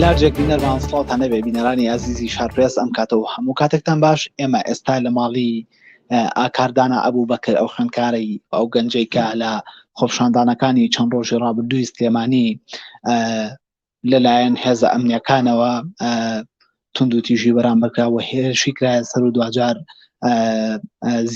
لارجێک بینەرمان سڵاوتان نەبێ بینەرانی ئازیزی شارپرێس ئەم کاتە و هەموو کاتێکتان باش ئێمە ئێستا لە ماڵی ئاکاردانە ئەبوو بەکر ئەو خوێندکارەی ئەو گەنجەی کە لە خۆپشاندانەکانی چەند ڕۆژی ڕابردووی سلێمانی لەلایەن هێزە ئەمنیەکانەوە توندوتیژی بەرامبەرکرا و هێرشی کرایە سەر و دواجار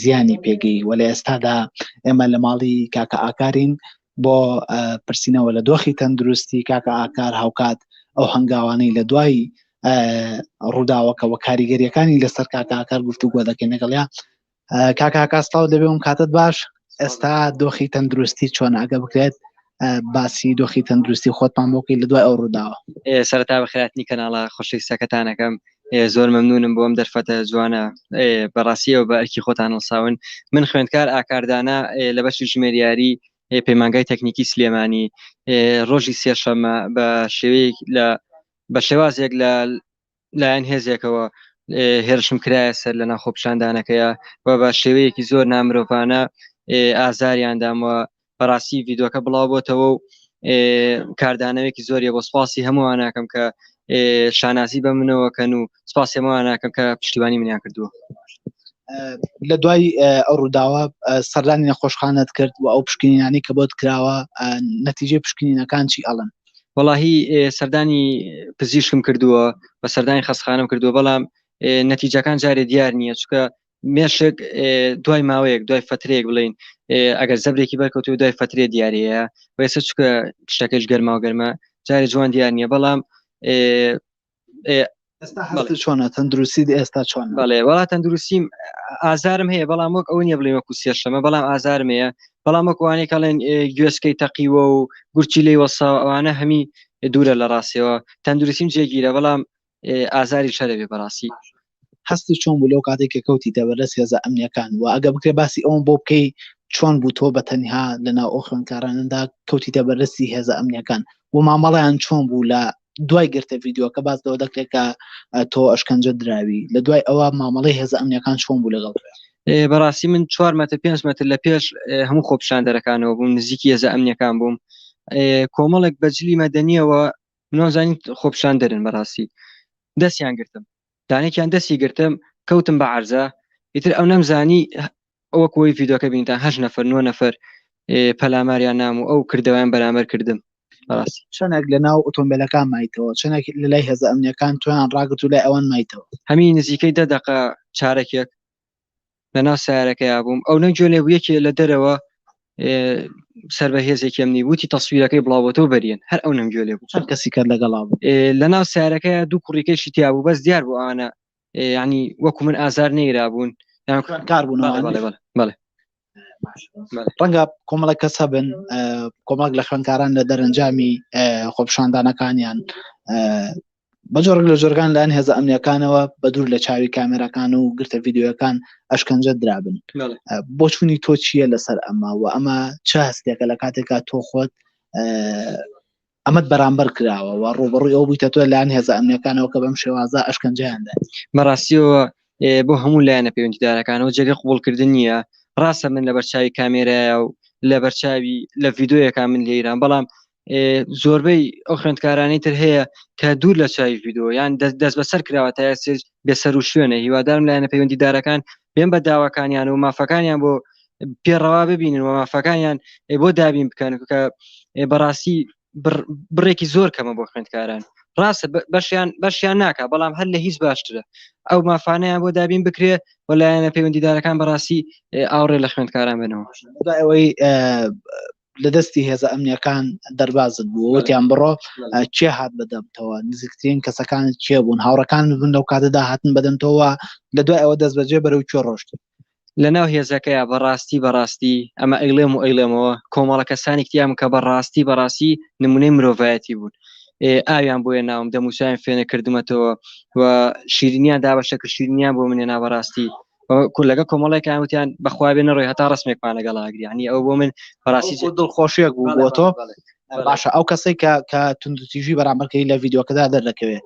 زیانی پێگەی و لە ئێستادا ئێمە لە ماڵی کاکە ئاکارین بۆ پرسینەوە لە دۆخی تەندروستی کاکە ئاکار هاوکات ئەو هەنگاوانەی لە دوای ڕووداوەکەەوە کاریگەریەکانی لەسەر کاکە ئاکار گفتوگۆ دەکەین لەگەڵیا کاکە هاکاس تاو دەبێ ئەم کاتت باش ئێستا دۆخی تەندروستی چۆن ئەگە بکرێت باسی دۆخی تەندروستی خۆتمان بۆکی لە دوای ئەو ڕووداوە سەرتا بە خراپنی کەناڵە خۆشی سەکەتانەکەم زۆر مەمنونم بۆم دەرفەتە جوانە بەڕاستیەوە بە ئەرکی خۆتان هەڵساون من خوێندکار ئاکاردانە لە بەشی ژمێریاری پەیمانگای تەکنیکی سلێمانی ڕۆژی سێشەمە بە شێوەیەک لە بە شێوازێک لە لایەن هێزێکەوە هێرشم کرایە سەر لە ناخۆپشاندانەکەیە و بە شێوەیەکی زۆر نامرۆڤانە ئازاریاندامەوە بەڕاستی یددیوەکە بڵاو بۆتەوە و کاردانەوەیەکی زۆریە بۆ سپاسی هەمووان ناکەم کە شانازی بە منەوە کەن و سپاسی هەمووان ناکەم کە پشتیوانی منیان کردووە لە دوای ئەو ڕووداوە سەردانی نەخۆشخانت کرد و ئەو پشکنینانی کە بۆت کراوە نەتیجێ پشکنینەکان چی ئەڵن وەڵاهی سەردانی پزیشکم کردووە بە سەردانی خەستخانم کردووە بەڵام نەتیجەکان جارێ دیار نییە چکە مێشک دوای ماوەیەک دوای فترێک بڵین ئەگەر زەبرێکی بەرکەوت و دوای فترێ دیارەیە وێسە چکە شتەکەش گەرماو گەرمە جارێ جوان دیار نییە بەڵام چۆنە تەندروستی ئێستا چۆن بەڵێ وڵات تەندروستیم ئازارم هەیە بەڵام وەک ئەو نیە بڵێ وەکو سێشەمە بەڵام ئازارم هەیە بەڵام وەکوانێک کاڵێن گوێسکەی تەقیوە و گورچی لی وەسا ئەوانە هەمی دوورە لە ڕاستەوە تەندروستیم جێگیرە بەڵام ئازاری شەرەێ بەڕاستی هەستت چۆن بوو لەو کاتێک کە کەوتیتە بەردەست هێزە ئەمنیەکان و ئەگە بکرێ باسی ئەوم بۆ بکەی چۆن بوو تۆ بە تەنها لە ناو ئەو خوێندکارانەدا کەوتیتە بەردەستی هێزە ئەمنیەکان و مامەڵیان چۆن بوو لە دوای گرتە ڤیددیوەکە باز لەوە دەکرێت کە تۆ ئەشکەنجە دراوی لە دوای ئەوە مامەڵی هێزە ئەمنیەکان چۆن بوو لەگەڵ بەڕاستی من چوار مەتر پێنج مەتر لە پێش هەموو خۆپشاندەرەکانەوە بووم نزیکی هێزە ئەمنیەکان بووم کۆمەڵێک بەجلی مەدەنیەوە نازانین خۆپشان دەرن بەڕاستی دەستیان گرتم دانێکیان دەستی گرتم کەوتم بە عرزە ئیتر ئەو نەمزانی ئەوە کۆی یددیوکە بینتان هەش نەفر نوە نەفر پەلاماریان نام و ئەو کردەوەیان بەرامەر کردم بەڕاستی چەنێک لە ناو ئۆتۆمبیلەکان مایتەوە چەنێک لە لای هێزە ئەمنیەکان تویان ڕاگرت و لای ئەوان مایتەوە هەمی نزیکەی دە دقە چارەکێک لەناو سیارەکەیا بووم ئەو نەنجۆ لێ یەکێ لە دەرەوە سەر بە هێزێکم نی وتی تەسویرەکەی بڵاوەتەوە بەریێن هەر ئەو نەنجۆ لێ بوو چەند کەسی کات لەگەڵا بوو لەناو سیارەکەیا دوو کوڕیکەشی تیا بوو بەس دیار بوو ئەوانە ینی وەکو من ئازار نەیرا بوون کار بوون بەڵێ ڕەنگە کۆمەڵە کەس هەبن کۆمەڵک لە خوێنکاران لە دەرەنجامی خۆپشاندانەکانیان بە جۆرێک لە جۆرگان لەەن هێزە ئەمنیەکانەوە بە دوور لە چاوی کامێراکان و گرتە یددیوەکان ئەشکەنجە درابن بۆچوونی تۆ چییە لەسەر ئەمە و ئەمە چ هەستێکە لە کاتێکا تۆ خۆت ئەمەد بەرامبەر کراوە و ڕوبڕی ئەو بوویتە تۆ لایەن هێزە ئەمنیەکانەوە کە بەم شێوازە ئەشکەنجیاندا مەڕاستیەوە بۆ هەموو لایەنە پەیوەندیدارەکانەوە جێگە قوبڵکردن نییە ڕاستە من لە بەرچوی کامێرایە و لە بەرچوی لە یددیوەکان من لە ایران بەڵام زۆربەی ئەو خوێندکارانی تر هەیە کە دوور لە چاوی ڤیددیو یان دەست بەسەر کراوە تا سێج بێسەر و شوێنە هیوادارم لایەنە پەیوەندیدارەکان بێن بە داواکانیان و مافەکانیان بۆ پێڕەوا ببینن و مافەکانیان بۆ دابین بکەن کە بەڕاستی بڕێکی زۆر کەمە بۆ خوێندکاران ڕاستە بەشیان بەشیان ناکە بەڵام هەر لە هیچ باشترە ئەو مافانەیان بۆ دابین بکرێ و لایەنە پەیوەندیدارەکان بەڕاستی ئاوڕێ لە خوێندکاران بنەوە ئەوەی لە دەستی هێزە ئەمنیەکان دەربازت بوو وتیان بڕۆ کێ هات بەدەمتەوە نزیکترین کەسەکانت کێ بوون هاوڕەکان بوون لەو کاتەدا هاتن بەدەمتەوە لە دوای ئەوە دەست بەجێ بەرەو کوێ ڕۆشت لە ناو هێزەکەیە بەڕاستی بەڕاستی ئەمە ئەیڵێم و ئەیڵێمەوە کۆمەڵە کەسانی کتیام کە بەڕاستی بەڕاستی نمونەی مرۆڤایەتی بوون ئاویان بۆیە ناوم دەموچیان فێنە کردمەتەوە و شیرینیان دابەشە کە شیرینیان بۆ منێ نابەڕاستی کولەکە کۆمەڵێکیان وتیان بەخوا بێ نەڕۆی هەتا ڕسمێکمان لەگەڵ ئاگری عنی ئەو بۆ من بەڕاستی جێ دڵخۆشیەک بوو بۆ تۆ باشە ئەو کەسێک کە کە توندتیژی بەرامبەرکەی لە یددیوکەدا دەردەکەوێت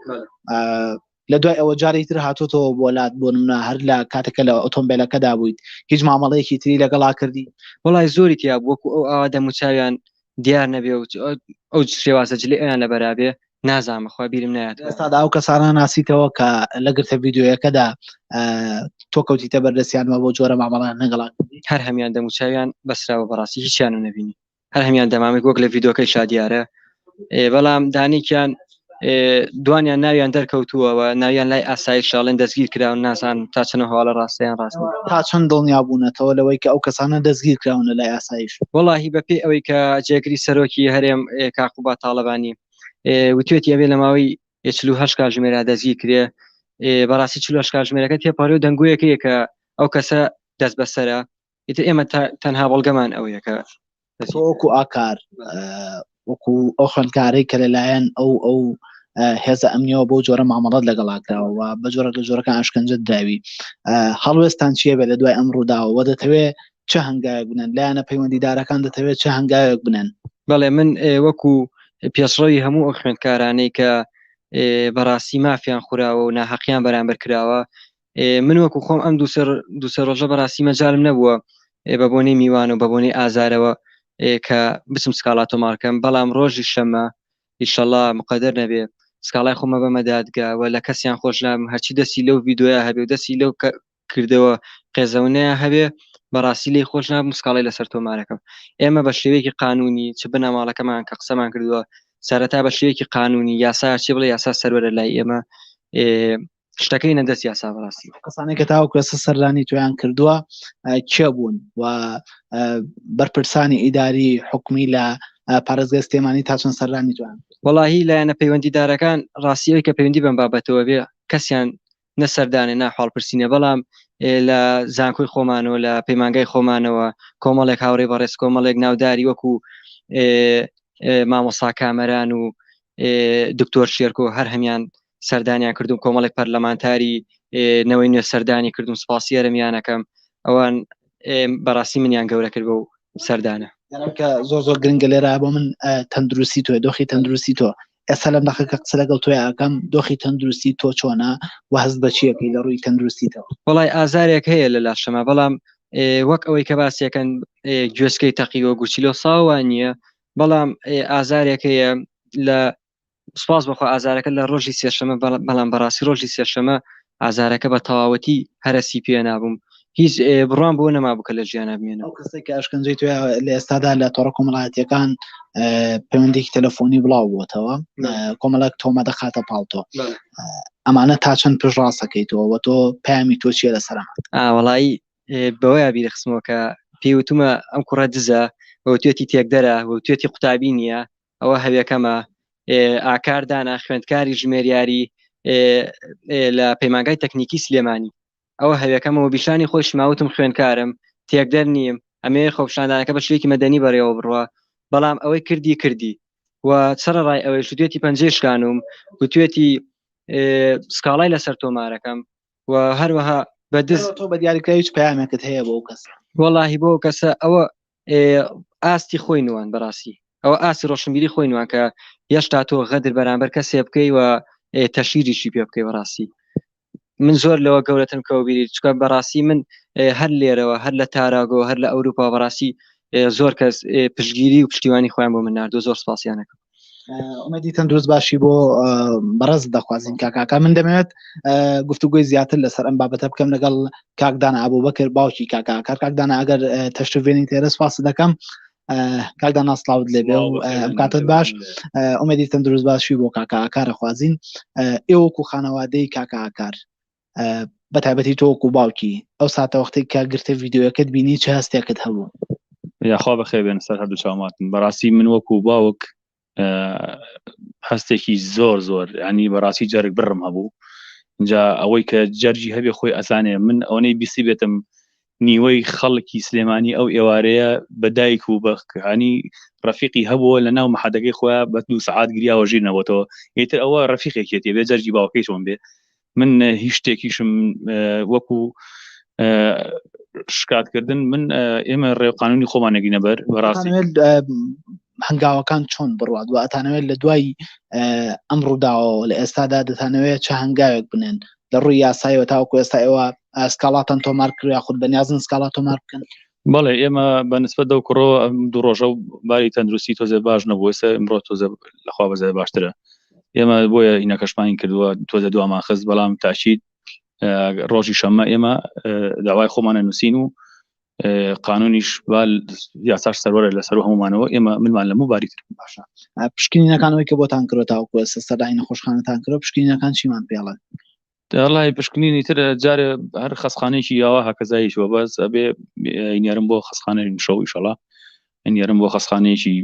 لە دوای ئەوە جاری تر هاتوتەوە بۆلات بۆ منە هەر لە کاتەکە لە ئۆتۆمبیلەکەدا بوویت هیچ مامەڵەیەکی تری لەگەڵا کردی وڵای زۆری تیا بووکو ئەو ئاوا دەموچویان دیار نەبێ و ئەو شێوازە جلی ئەیان لە بەرابێ نازان بەخوا بیرم نایات ئێستادا ئەو کەسانە ناسیتەوە کە لە گرتە یددیوەکەدا تۆ کەوتیتە بەردەستیانەوە بۆ جۆرە مامەڵان نەگەڵان هەر هەمیان دەموچویان بەسراوە بەڕاستی هیچیان و نبینی هەر هەمیان دەمامێک وەک لە یددیوەکەی شادیارە بەڵام دانێکیان دوانیان ناویان دەرکەوتووەوە ناویان لای ئاسایی شاڵێن دەستگیر کراون ناسان تا چنە هەواڵە ڕاستیان ڕاست تا چەند دڵنیا بوونەتەوە لەوەی کە ئەو کەسانە دەستگیر کراون لە لای ئاسایش وڵی بە پێی ئەوەی کە جێگری سەرۆکی هەرێم کاقوبا تاالبانی وتێتی ئەوێ لە ماوەی هه کاژمێرا دەزی کرێ بەڕاستی چ کاژمێرەکە تێپەڕی و دەنگویەکەیە کە ئەو کەسە دەست بەسرە ئیتر ئێمە تەنها بەڵگەمان ئەوەیە کە وەکو ئاکار وەکو ئەو خوێندکارەی کە لەلایەن ئەو ئەو هێزە ئەمنیەوە بۆ جۆرە مامەڵات لەگەڵاکراوە بە جۆرە لە جۆرەکە ئاشکنجە داوی هەڵوێستان چیە بێ لە دوای ئەم ڕووداوە دەتەوێت چه هەنگایەک بنن لایەنە پەیوەندیدارەکان دەتەوێت چه هەنگایەک بنن بەڵێ من وەکو پێشڕەوی هەموو ئەو خوێندکارانەی کە بەڕاستی مافیان خوراوە و ناحەقیان بەرامبەر کراوە من وەکو خۆم ئەم دوسەر دوسە ڕۆژە بەڕاستی مەجارم نەبووە بە بۆنەی میوان و بە بۆنەی ئازارەوە کە بچم سکاڵا تۆمارکەم بەڵام ڕۆژی شەمە ئیشەڵا مقدر نەبێ سکاڵای خۆمە بە مەدادگەوە لە کەسیان خۆش لام هەرچی دەستی لەو ویددیوە هەبێ و دەستی لەو کردەوە قێزەونەیە هەبێ بەڕاستی لی خۆش ناب مسکاڵی لەسەر تۆمارەکەم ئێمە بە شێوەیەکی قانونی چ بنەماڵەکەمان کە قسەمان کردووە سەرەتا بە شێوەیەکی قانونی یاسا چی بڵێ یاسا سەروەرە لای ئێمە شتەکەی نە دەست یاسا بەڕاستی کەسانێک کە تاوەکو ئێستا سەردانی تویان کردووە کێ بوون و بەرپرسانی ئیداری حکومی لە پارێزگە سلێمانی تا چەند سەردانی توان وەڵاهی لایەنە پەیوەندیدارەکان ڕاستیەوەی کە پەیوەندی بەم بابەتەوە بێ کەسیان نە سەردانێ ناحاڵپرسینە بەڵام لە زانکۆی خۆمانەوە لە پەیمانگای خۆمانەوە کۆمەڵێک هاوڕێ بەڕێز کۆمەڵێک ناوداری وەکو مامۆسا کامەران و دکتۆر شێرکۆ هەر هەمان سەردانیان کردو کۆمەڵی پەرلەمانتاری نەوەی نوێ سەردانی کردم سپاسی ئەرمیانەکەم ئەوان بەڕاستی منیان گەورە کرد بە و سەردانە کە زۆر زۆر گرنگە لێرا بۆ من تەندروستی تۆ دۆخی تەندروستی تۆ ئێستا لەم دەخە کە قسە لەگەڵ تۆی ئاکەم دۆخی تەندروستی تۆ چۆنا و هەست بەچیەکەی لە ڕووی تەندروستیتەوە وڵای ئازارێک هەیە لە لاشەمە بەڵام وەک ئەوەی کە باسیەکەن گوێسکەی تەقیوە گوچیلۆ ساوە نییە بەڵام ئازارێک هەیە لە سپاس بەخوا ئازارەکە لە ڕۆژی سێشەمە بەڵام بەڕاستی ڕۆژی سێشەمە ئازارەکە بە تەواوەتی هەرسی پێ نابووم هیچ بڕوان بۆ نەما بکە لە ژیانە بمێنە ئەو کەسێک کە ئەشکەنجەی توێ لە ئێستادا لە تۆڕە کۆمەڵایەتەکان پەیوەندێکی تەلەفۆنی بڵاو بووتەوە کۆمەڵک تۆمە دەخاتە پاڵتۆ ئەمانە تا چەند پێش ڕاستەکەیتەوە وە تۆ پامی تۆ چیە لە سەرما ئاوەڵایی بەوەیا بیرخستمەوە کە پێوتمە ئەم کوڕە دزە وتێتی تێکدەرە وتێتی قوتابی نییە ئەوە هەویەکەمە ئاکار دانا خوێندکاری ژمێریاری لە پەیمانگای تەکنیکی سلێمانی ئەوە هەویەکەمەوە بیشانی خۆش ماوتم خوێندکارم تێکدەر نیم ئەمێ خۆپشاندانەکە بە شوێکی مەدەنی بەڕێوە بڕە بەڵام ئەوەی کردی کردی و سەرڕ ڕای ئەوەی شتێتی پەنجێشکانم گوتوێتی سکاڵای لەسەر تۆمارەکەم و هەروەها بە دز تۆ بە دیاریکراویش پامەکەت هەیە بۆ کەس وەڵی بۆ کەسە ئەوە ئاستی خۆی نوان بەڕاستی ئەوە ئاسی ڕۆشنبیری خۆی نوان کە هێشتا تۆ غەدر بەرامبەر کەسێ بکەی و تەشیریشی پێ بکەی بەڕاستی من زۆر لەوە گەورەتم کەوبیری چکە بەڕاستی من هەر لێرەوە هەر لە تاراگۆ هەر لە ئەوروپا بەڕاستی زۆر کەس پشگیری و پشتیوانی خۆیان بۆ من نردۆ زۆر سپاسیانەکەم ئومێدی تەندروست باشی بۆ بەڕز دەخوازیین کاکاکە من دەمێت گفتوگوی زیاتر لەسەر ئەم بابەتە بکەم لەگەڵ کاکدان ئابوو بەکرد باوکی کاکا کار کاکدان ئەگەر تەشتێنی تێرە سپاس دەکەم کاکدا ناسلااوت لێ بێ و کاتت باش ئومێدی تەندروست باشی بۆ کاکە ئاکارە خوازیین ئێوەکو خانەوادەی کاکە ئاکار بە تابەتی تۆک و باوکی ئەو ساتە وەختێک کا گرتە ڤیددیوەکەت بینی چ هەستێکت هەبوو یاخوا بەخێ بێن سەر هەردوو چاوماتن بەڕاستی من وەک و باوک هەستێکی زۆر زۆر ینی بەڕاستی جەرگ بڕم هەبوو جا ئەوەی کە جەرجی هەبێ خۆی ئەزانێ من ئەوەی بیسی بێتم نیوەی خەڵکی سلێمانی ئەو ئێوارەیە بەدایک و بەخکانی ڕفیقی هەبووە لە ناو محەدەکەی خۆیان بە دو سعات گریاوە ژیرنەوەتەوە ئیتر ئەوە ڕفیقێکێتی بێ جەرجی باوکەی چۆن بێ من هیچ شتێکیشم وەکو شکاتکردن من ئێمە ڕێوقانونی خۆمانەگینە بەر بەڕاستی هەنگاوەکان چۆن بڕات و ئەتانەوێت لە دوای ئەم ڕووداوەوە لە ئێستادا دەتانەوێت چه هەنگاوێک بنێن لە ڕووی یاسایەوە تاوەکو ئێستا ئێوە سکاڵاتان تۆمار کرد یاخود بەنیازن سکاڵات تۆمار بکەن بەڵێ ئێمە بە نسبت دەو کوڕەوە دوو ڕۆژە و باری تەندروستی تۆزێ باش نەبوو ئێستا ئمڕۆ تۆزە لەخوا بەزای باشترە ئێمە بۆیە ئینەکەشمانی کردووە تۆزە دوامان خست بەڵام تاشید ڕۆژی شەممە ئێمە داوای خۆمانە نووسین و قانونیش بال یاساش سەرەرە لەسەر هەمومانەوە ئێمە منمان لە مباری تر باشە پشکنینەکانەوەی کە بۆتان کرۆ تاوکوە سەرای نەخۆشخانەتان کرۆ پشکنینەکان چیمان پێڵن دەڵی پشکنینی تر جارێ هەر خەسخانێکی یاوە هەکەزایش وە بەس ئەبێ نێرم بۆ خەسخانە شەوی شەڵا نێرم بۆ خەسخانەیەکی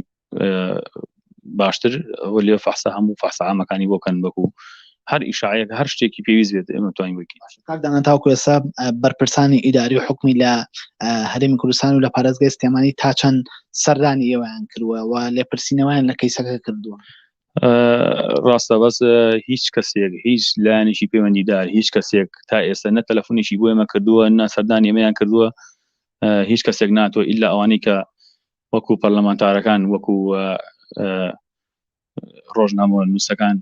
باشتر ئەوە لێ فەحسە هەموو فەحسەعامەکانی بۆ کەن بەکو هەر ئیشعەیەک هەر شتێکی پێویست بێت ئێمە توانین بکەین کاردانە تاوکو ئێستا بەرپرسانی ئیداری و حکومی لە هەرمی کوردستان و لە پارێزگای سلێمانی تا چەند سەردانی ئێوەیان کردووە و لێپرسینەوەیان لە کەیسەکە کردووە ڕاستە بەس هیچ کەسێک هیچ لایەنێکی پەیوەندیدار هیچ کەسێک تا ئێستا نە تەلەفۆنێکی بۆ ئێمە کردووە نە سەردان ئێمەیان کردووە هیچ کەسێک ناتۆ ئللا ئەوانەی کە وەکو پەرلەمانتارەکان وەکو ڕۆژنامە نووسەکان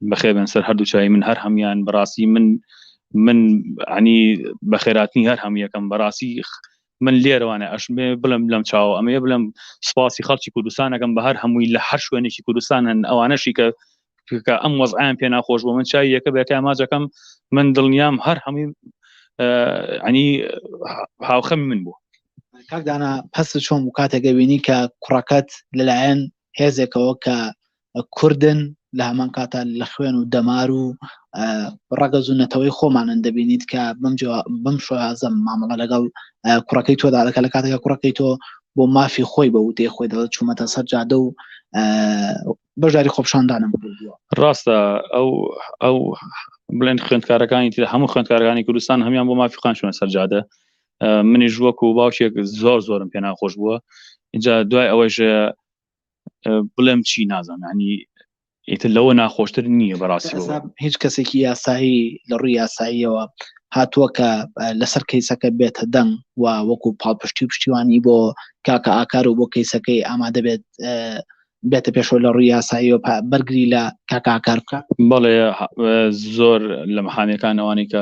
بەخێبن سەر هەردوو چای من هەر هەمان بەڕاستی من من عنی بەخێراتنی هەر هەم یەکەم بەڕاستی من لێرەوانە ئەش بڵم لەم چاوە ئەمەیە بڵم سپاسی خەڵکی کوردستانەکەم بە هەر هەمووی لە هەر شوێنێکی کوردستان هەن ئەوانەشی کە کە ئەم وەزعیان پێ ناخۆش بۆ من چای یەکە بێتە ئاماجەکەم من دڵنیام هەر هەمووی ئەنی هاوخەمی من بوو کاکدانا پس چۆن و کاتێکە بینی کە کوڕەکەت لەلایەن هێزێکەوە کە کوردن لە هەمان کاتا لە خوێن و دەمار و ڕەگەز و نەتەوەی خۆمانن دەبینیت کە بم شۆازم مامەڵە لەگەڵ کوڕەکەی تۆدا دەکە لە کاتەکە کوڕەکەی تۆ بۆ مافی خۆی بە وتێ خۆی دەڵە چوومەتە سەر جادە و بەشداری خۆپشاندانم ڕاستە ئەو ئەو بڵێن خوێندکارەکانی تر هەموو خوێندکارەکانی کوردستان هەمیان بۆ مافی خانچوە سەرجادە منیش وەکو باوکێک زۆر زۆرم پێ ناخۆش بووە اینجا دوای ئەوەیش بڵێم چی نازانانی ئیتر لەوە ناخۆشتر نییە بەڕاستی هیچ کەسێکی یاسایی لە ڕووی یاساییەوە هاتووە کە لەسەر کەیسەکە بێتە دەنگ و وەکو پاڵپشتی و پشتیوانی بۆ کاکە ئاکار و بۆ کەیسەکەی ئامادە بێت بێتە پێشەوە لە ڕووی یاسایی و بەرگری لە کاکاکار بکە بەڵێ زۆر لە مەحامەکان ئەوانی کە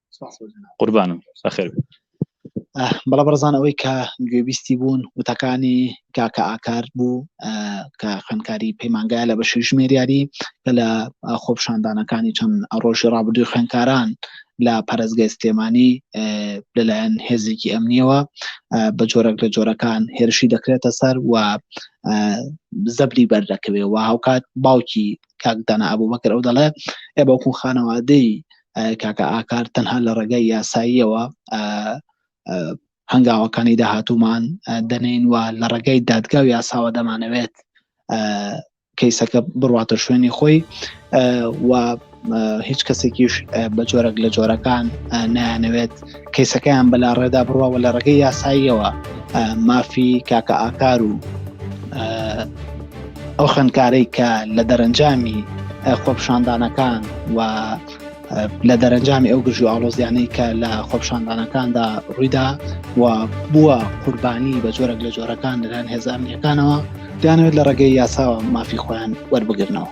قوربانم بەخێر بەڵە بەرزان ئەوەی کە گوێبیستی بوون وتەکانی کاکە ئاکار بوو کە خوێنکاری پەیمانگای لە بەشی ژمێریاری کە لە خۆپشاندانەکانی چەند ڕۆژی ڕابردووی خوێنکاران لە پارێزگای سلێمانی لەلایەن هێزێکی ئەمنیەوە بە جۆرەك لە جۆرەکان هێرشی دەکرێتە سەر و زەبری بەردەکەوێ و هاوکات باوکی کاکدانا ئەبوو بەکر ئەو دەڵێ ئێ بەکو خانەوادەی کاکە ئاکار تەنها لە ڕێگای یاساییەوە هەنگاوەکانی داهاتومان دەنین و لە ڕێگەی دادگا و یاساوە دەمانەوێت کەیسەکە بڕاتە شوێنی خۆی و هیچ کەسێکیش بە جۆرەك لە جۆرەکان نایانەوێت کەیسەکەیان بەلاڕێدا بڕوا و لە ڕێگەی یاساییەوە مافی کاکە ئاکار و ئەو خوێندکارەی کە لە دەرەنجامی خۆپشاندانەکان و لە دەرەنجامی ئەو گژو ئاڵۆزیانەی کە لە خۆپشاندانەکاندا ڕوویدا و بووە قوربانی بە جۆرەك لە جۆرەکان لەلایەن هێزانیەکانەوە دانوێت لە ڕێگەی یاساوە مافی خۆیان وەربگرنەوە.